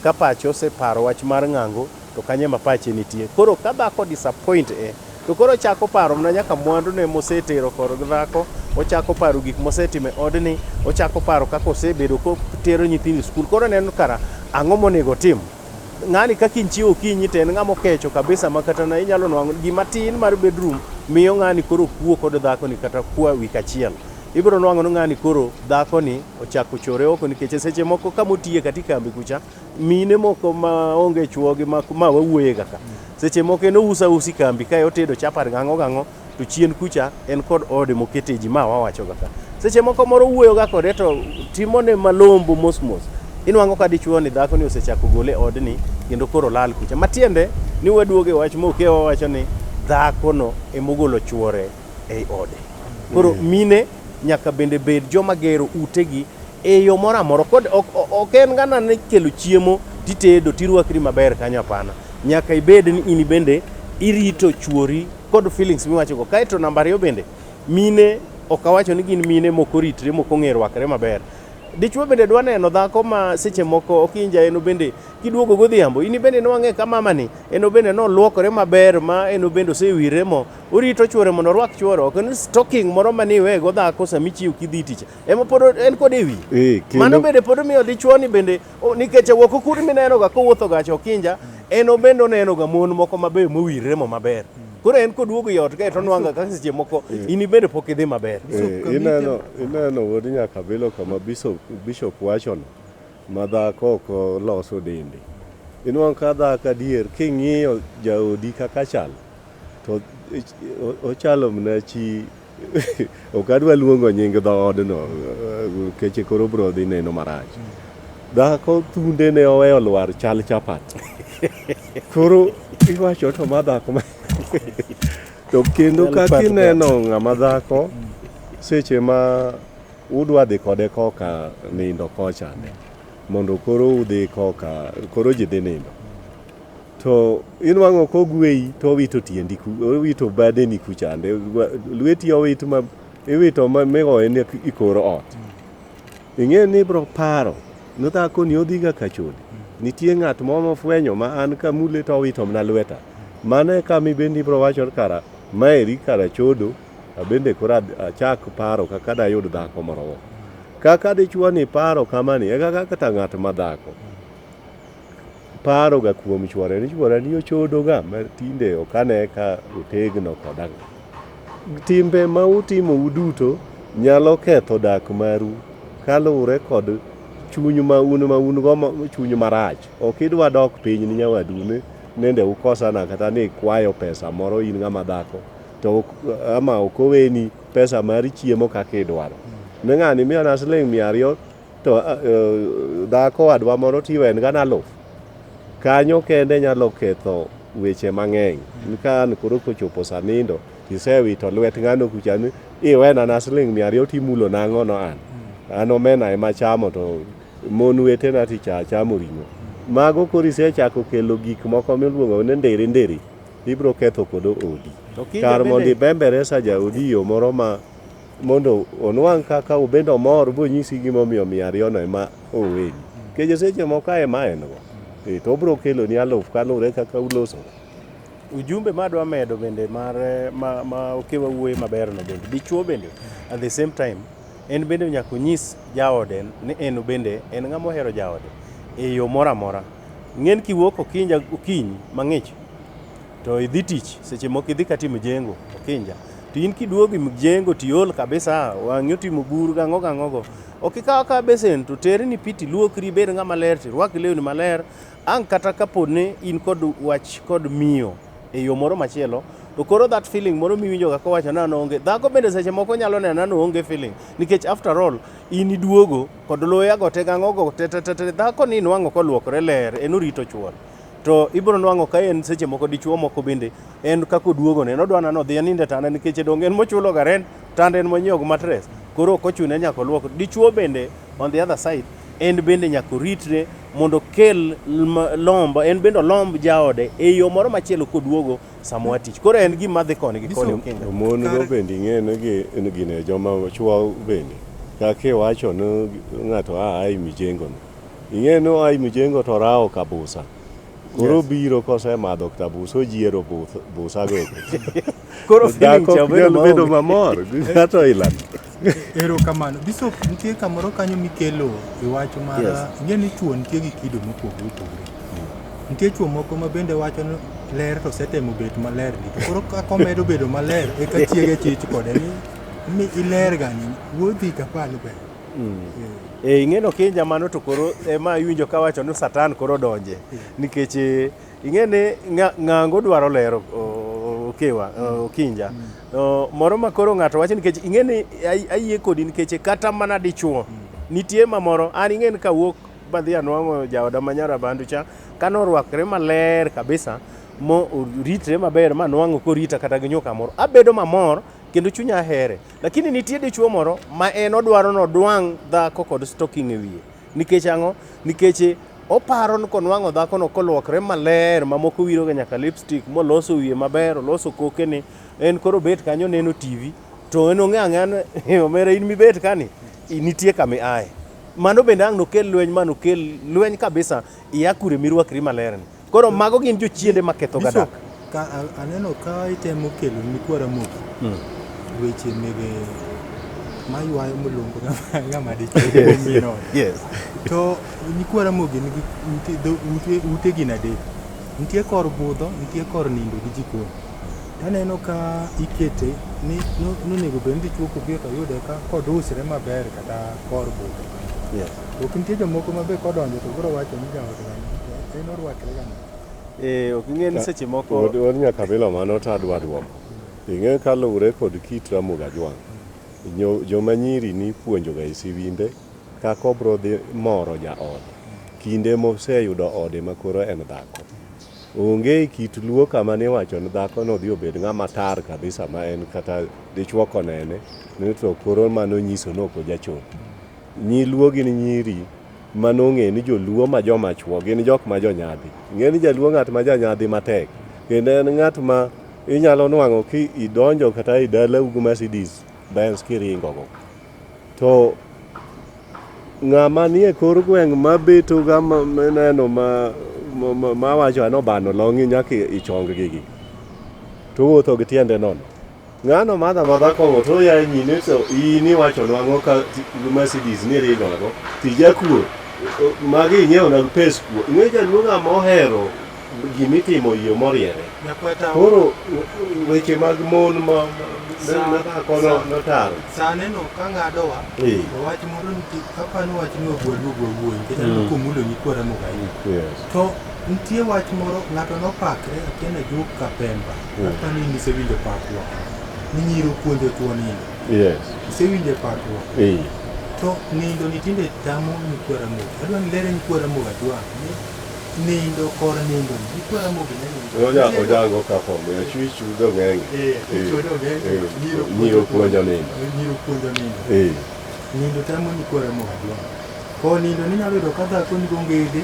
ka pache oseparo wach mar ng'ango to kanyo ema pache nitie. Koro ka dhako disappoint e, to koro ochako paro mana nyaka mwandune mosetero koro gi dhako, ochako paro gik mosetimo e odni, ochako paro kaka osebedo kotero nyithindo e skul. Koro oneno kara, ang'o monego otim? Ng'ani kaka inchiewo okinyi to en ng'ama okecho kabisa ma kata na inyalo nwang'o gima tin mar bedroom miyo ng'ani koro kuo kod dhakoni kata kwa wik achiel. Ibiro nwang'o ni ng'ani koro dhakoni ochako chore oko nikech e seche moko kama otiye kata e kambi kucha, Mine moko ma onge chuogi ma ma wawuoye ga ka. Seche moko en ousa usi kambi kae otedo chapat gang'o gang'o to chien kucha en kod ode mokete ji ma wawacho ga ka. Seche moko moro uwuoyo ga kode to timone malombo mos mos. Inwang'o ka dichuo ni dhako ni osechako gole odni kendo koro olal kucha. Matiende ni waduogo e wach moke wawacho ni dhako no emogolo chuore ei ode. Koro mine nyaka bende bed joma gero utegi e yo moro amora kod ok en gana ni kelo chiemo titedo tirwakri maber kanyo apana nyaka ibed ni in bende irito chuori kod feelings miwachogo kaeto namba ariyo bende mine ok awacho ni gin mine moko ritre moko ng'e rwakre maber dichwo bende dwa neno dhako ma seche moko okinja eno bende kiduogo godhiambo in bende nwang'e ka mamani eno bende noluokore maber ma eno bende osewire mo orito chuore mondo orwak chuore ok en stocking moro maniwego dhako samichiew kidhi tich ema pod en kod e wi eh, mano bende pod omiyo dichuoni bende nikech ewuok okuri minenoga kowuotho gacha okinja en obende onenoga mon moko mabeyo mowirre mo maber koro en koduogo e ot kae to onwanga kaka seche moko eh. in ibende pok idhi maber eh, ineno wuod nyaka bilo kama bishop wachono ma dhako ok loso dende inwang' ka dhako adier king'iyo jaodi kaka chal to ochalo mna chi Ok adwa luongo nying dhoodno keche koro bro dhi neno marach. Dhako thunde ne oweyo lwar chal chapat. Koro iwacho to ma dhako ma to kendo kaka ineno ng'ama dhako seche ma udwa dhi kode koka nindo kocha ne mondo koro udhi koka koro ji dhi nindo To inwang'o kogweyi to owito tiendi, owito badeni kuchande, lweti owit ma iwito ma migoye ni i kor ot. Ing'e ni ibro paro ni dhako ni odhiga ka chode. Nitie ng'at moro mofwenyo ma an kamule to owito mana lweta. Mano e kama ibende ibro wacho ni kara maeri kara chodo, abende koro achak paro kaka dayud dhako moro. Kaka dichwo ni paro kamani e kaka kata ng'at ma dhako. paroga kuom chwore ni chwora ni ochodoga ma tinde ok ane ka otegno koda. Timbe ma utimo uduto nyalo ketho dak maru kaluwore kod chuny ma un ma un go chuny marach. Ok idwa dok piny ni nyawadu ni nende ukosana kata ni kwayo pesa moro in ng'ama dhako to ama ok oweni pesa mar chiemo kaka idwaro. Ne ng'ani miyona siling' mia ariyo to a- eh, dhako wadwa moro tiwe en gana aluf kanyo kende nyalo ketho weche mang'eny ka an koro kochopo sanindo isewito lwet ng'ano kucha ni iwena na siling mia ariyo timulo nang'o no an an omena ema chamo to mon wetena ticha chamo ring'o mago koro isechako kelo gik moko miluongo ni ndiri ndiri ibiro ketho kodo odi To kinda kar mondo bende- ibembere sa jaodi yo moro ma mondo onwang' kaka obed omor bonyisi gimomiyo mia ariyono ema oweni keje seche moko ka ema en go Eh, to obro keloni aluf kaluwore kaka uloso ujumbe ma adwa medo bende mar eh, ma, ma okewa wuoye maberno bende dichuo bende at the same time en bende nyaka onyis jaode ni en bende en ng'ama ohero jaode e yo moro amora ng'en kiwuok okinyi okinyi mang'ich to idhi tich seche moko idhi kata mjengo okinja to in kiduogo mjengo to iol kabisa wang'i otimo buru gang'o gang'ogo ok ikaw akawa besen to terni pi to iluokri ibed ng'ama ler to irwak lewni maler ang' kata kapo ni in kod wach kod miyo e yo moro machielo to koro that feeling moro miwinjoga kowacho ni an onge dhako bende seche moko nyalo nena ni onge feeling nikech after all in iduogo kod loyago te gang'ogo te te te te dhako ni inwang'o kolwokre ler en orito chwore to ibiro nwang'o ka en seche moko dichuo moko bende en kaka oduogone en odwa nano odhi aninde tanda nikech dong en mochulo ga rent tanda en monyiewo gi matres koro ok ochune nyaka olwok dichuo bende on the other side en bende nyaka oritre mondo kel lomb en bende olomb jaode e yo moro machielo koduogo samoa tich koro en gima dhi koni gi koni okinga mon go bende ing'eno gi gine joma chuo bende kaka iwacho ni ng'ato a ai mijengo no Ing'e ni oa Mjengo to orawo ka busa. Koro Yes. obiro kosemadho ka busa ojiero buth- busago. Koro feeling Dhako cha ok obedo nyal bedo maonge. mamor gi ng'ato ilano. Erokamano. Bishop, nitie kamoro kanyo mikelo e wach mar Yes. ing'e ni chwo nitie gi kido mopogore opogore. Nitie chwo moko ma bende wacho ni ler to setemo bet maler ni to koro kaka omedo bedo maler eka chiege chich kode ni mi iler gani wuodhi ka palo ber. Mm. E, ing'e no kinja mano to koro ema eh, iwinjo ka wacho ni satan koro donje nikech eh, ing'e ni ng'ango dwaro lero okewa mm. okinja mm. moro ma koro ng'ato wacho nikech ing'e ni ayie kodi nikech kata mana dichuo mm. nitie ma moro an ing'e ni kawuok badhi anwang'o jaoda ma nyara bandu cha kane orwakre maler kabisa mo oritre maber ma nwang'o korita kata gi nyuka moro abedo mamor kendo chunya ahere Lakini nitie dichuo moro ma en odwaro ni odwang' dhako kod stocking e wiye. Nikech ang'o? Nikech oparo ni konwang'o dhakono kolwokre maler ma moko wiroga nyaka lipstick moloso wiye maber, oloso kokene, en koro obet kanyo oneno TV to en ong'e ang'eya ni omera in mibet kani nitie kama iaye. Mano bende ang' nokel lweny ma nokel lweny kabisa ia kure mirwakri malerni. Koro mago gin jochiende ma ketho ga dak. Ka aneno ka itemo kelo ni kwa Ramogi. Hmm. Weche mege maywayo molongo ng'ama dichmino. Yes. To ni kwa Ramogi nigi ute gin adek. Nitie kor budho, nitie kor nindo gi jikon. Aneno ka ikete ni nonego bed ni dichuo kobi to yude ka kodusre maber kata kor budho. Ok nitie jomoko ma be kodonjo to koro wacho ni jaod dhano to en orwakre ga nade? Eh, ok ing'e ni seche moko Od od Nyakabila mano to adwa duoko. Ing'e kaluwre kod kit Ramogi Ajwang', nyo- joma nyiri nipuonjoga e siwimbe kaka obro dhi moro jaode. Kinde moseyudo ode ma koro en dhako. Onge e kit luo kama niwacho ni dhako no dhi obed ng'ama tar kabisa ma en kata dichwo konene ni to koro mano nyiso ni ok ojachopo. Nyi Luo gin nyiri ma nong'e ni joluo ma joma chwo gin jok ma jonyadhi. Ing'e ni jaluo ng'at ma janyadhi matek kendo en ng'at ma inyalo nwang'o ki idonjo kata e dalau gi Mercedes Benz kiringogo. To ng'ama nie kor gweng' ma betoga ma mineno ma mawacho anobano long'i nyaka ichong gigi. Towuotho gi tiende nono. Ng'ano madha madha kong'o to yaye nyine to in iwacho nwang'o ka Mercedes ni ringo nago tija kuo magi inyewo nag pes kuo ing'e jaluonga mohero gimitimo yo moriere koro weche mag mon ma nakono notaro saneno ka ng'adowa wach moro nitie kapani wach ni ogwadu ogwawuoyi nikech aneno mm. komulo nyikwara mogayi to nitie wach moro ng'ato nopakre akiana jok kapemba Apani ni sewinjo pakwa. Ni nyiro puonjo tuo nindo. Yes. Sewinjo pakwa. Eh. To nindo ni tinde tamo ni kwara mo. Adwa ni lere ni kwara mo adwa. Nindo kor nindo. Ni kwara mo bine nindo. Oja oja go ka fo mo. Chui chu do ngeng. Eh. Chui do ngeng. Nyiro puonjo nindo. Nyiro puonjo nindo. Eh. Nindo tamo ni kwara mo adwa. Ko nindo ni nyalo do kadha ko ni gongede.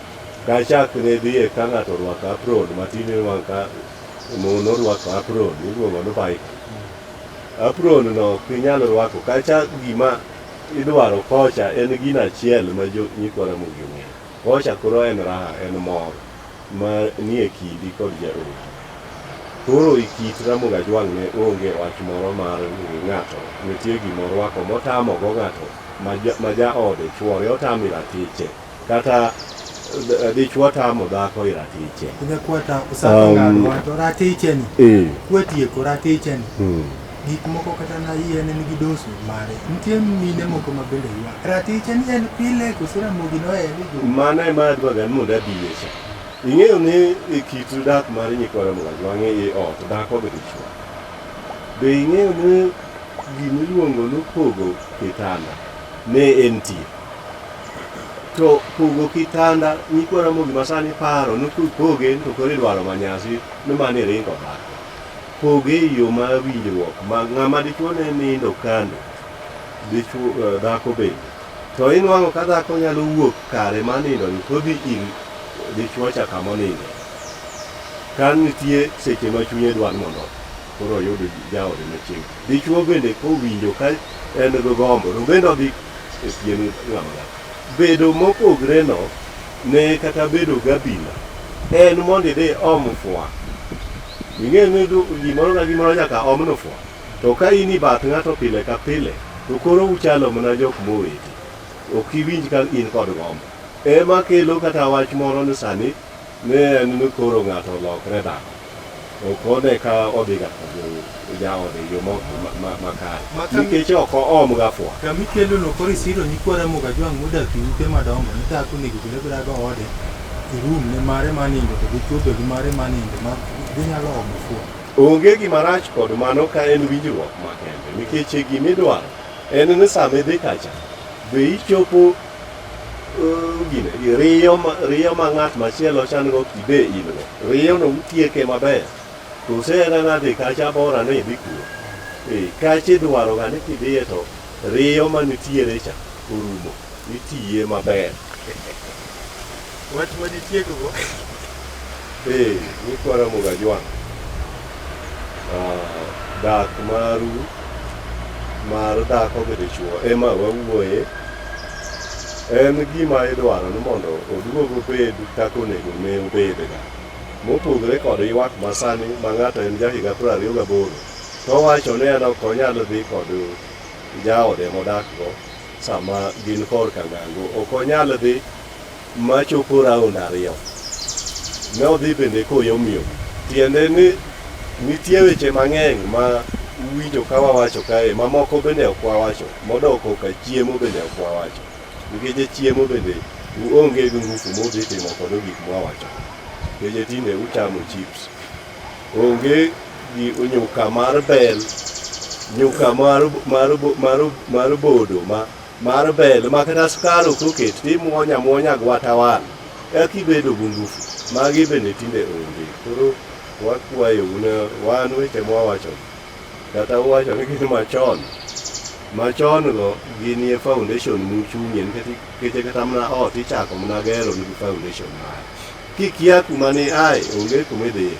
Ka chak ne dhi e ka ng'ato orwako apron matin iwang' ka mon orwako apron iluongo ni baika. Apron no ok inyal rwako kacha gima idwaro kocha en gino achiel ma jo nyikwa Ramogi ong'eyo. Kocha koro en raha, en mor ma nie kindi kod jaodi. Koro e kit Ramogi Ajwang' ne onge wach moro mar ni ng'ato nitie gima orwako motamogo ng'ato ma ja ma jaode, chwore otame ratiche. Kata eh, dichwo tamo dhako i ratiche. Kunya kwata usako um, ngadwa to ratiche ni. Eh. Kwetieko ratiche ni. Hmm. Gik moko kata na yien en gi dosu mare. Nitie mine moko ma bende ywa. Ratiche ni en pile kusura mogi no en gi. Mana ema adwa gan moda diyecha. Ing'eyo ni e kit dak mar nyikwara moga jwang'e i ot dhako gi dichwo. Be ing'eyo ni gimiluongo ni pogo kitanda ne en tie. to pogo kitanda nyikwa Ramogi ma sani paro ni kupoge to koro idwaro manyasi ni mano iringo dhako. Poge e yo ma winjruok ma ng'ama dichwo ne nindo kando dichwo eh, dhako bende. To inwang'o ka dhako nyalo wuok kare ma nindo ni kodhi ir dichwo cha kama onindo. Ka nitie seche ma chunye dwar mondo koro oyudo jaode machiegni. Dichwo bende kowinjo ka en gi gombo, to bende odhi e pien ng'ama dhako. Bedo mopogreno ne kata bedo gabila en mondo idhi om fwa. Ing'e ni du- gimoro ka gimoro nyaka omno fwa. To ka in i bath ng'ato pile ka pile, to koro uchalo mana jok moweti. Ok iwinj ka in kod gombo. Ema kelo kata wach moro ni sani Ne en ni koro ng'ato olokre dhano, ok one ka odhiga ka jaode e yo makare, nikech ok oomga fwa. Kama ikelono koro isiro nyikwa Ramogi Ajwang' modak e ute madongo, ne dhako onego obed abeda goode e room ne mare mar nindo to gi chwo be gi mare mar nindo ma ginyalo omo fwa. Onge gima rach kod mano ka en winjruok makende, nikech gima idwaro en ni sama idhi kacha be ichopo riyo riyo ma ng'at machielo chan go kibe in go riyo no utieke maber to usena nadhi kacha bora ni idhi kuno eh, kacha idwaro ga ni kidhiye to riyo manitiere cha orumo itiye maber Wach ma ditiekgo be nikwara muga jwang' dak maru mar dhako gi dichwo ema wawuoye en gima idwaro ni mondo oduog obed kaka onego ne obedga mopogore kod ywak masani ma ng'ato en jahiga piero ariyo gaboro to owacho ni en ok onyal dhi kod jaode modakgo sama gin korka ngango ok onyal dhi ma chopo raund ariyo. Ne odhi bende koyomyom, tiende ni nitie weche mang'eny ma uwinjo ka wawacho kae ma moko bende ok wawacho, modoko ka chiemo bende ok wawacho. Nikech chiemo bende uonge gi ngufu mudhi timo kodo gik mwawacho. Nikech tinde uchamo chips. Onge gi nyuka mar bel, nyuka mar, mar, mar, mar bodo ma mar bel makata skar ok oket timuonya muonya gwata wan eka ibedo gi ngufu magi bende tinde onge koro wakwayo un wan weche mwawacho kata uwacho ni gin machon machon go ginie foundation muchung'ie nikech kata mana ot ichako mana gero nigi foundation mare kikia kuma ni ae onge kuma idhiye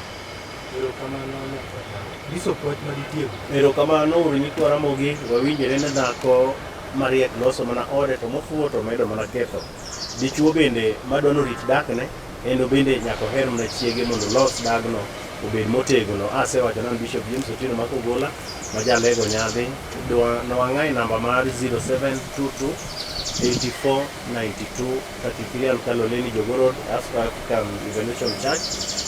Erokamano nyaka dhako. Nyiso puoch ma ditiego. Erokamano uru nyikwa Ramogi, wawinjore ne dhako mariek loso mana ode to mofuwo to medo mana ketho. Dichuo bende madwa ni orit dakne en obende nyaka oher mana chiege mondo olos dagno obed motegno. Asewacho nano Bishop James Otieno ma Kogola ma jalego nyadhi dwa nowang'ae namba mar 0722 84 92 Particulier Lukalo Leni Jogorod, Africa African Revelation Church,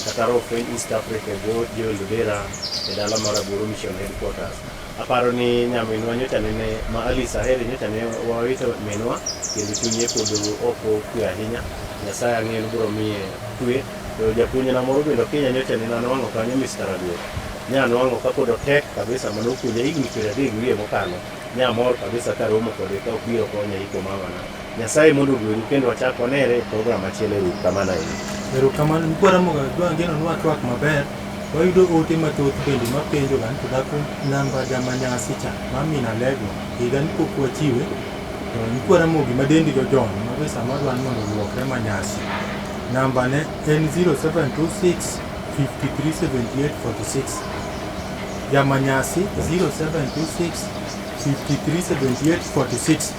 Kataro French East Africa, Go Joel Lubera, e dala mar Aburu Mission Headquarters. Aparo ni nyaminwa nyocha nene ma Alice Ahere nyocha ne wawito minwa kendo chunye pod ok okwe ahinya. Nyasaye ang'eyo ni biro miye kwe. To japuonjna moro bende Kenya nyocha nene anwang'o kanyo Mr. Aduok. Nyanwang'o kapod otek kabisa mane opuonja higni piero adek gi wiye mokalo. Ne amor kabisa ka romo kode ka obiro konya iko mamana. Nyasaye mondo ogwedhu kendo wachak wanere e program machielo e wik kama naendi. Erokamano mkwara moga dwa ngeno nwa twak maber wayudo ote mathoth bende mapenjo ga to dhako namba jamanyasi cha mamina lego higa ni pok wachiwe to mkwara mogi ma dendi jojon ma be sama dwan mondo luokre manyasi namba ne en 0726 537846 ya manyasi 0726 537846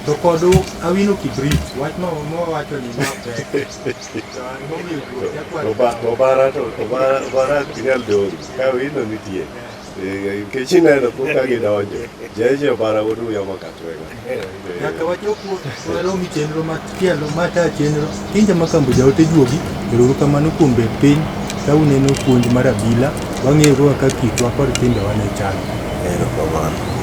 to kodu awino kibrit wach ma wawacho ni mapek obara to obara obara kinyal dori ka wino nitie nikech ineno kuka gidonjo jeje obara wodu yamo katwega Nyaka wachop waromi chenro machielo mata chenro. Kinja makambo jaote juogi, ero kamano kuom bet piny ka uneno puonj mar abila, wang'eyo kaka kitwa kod timbewa ne chal. Ero kamano.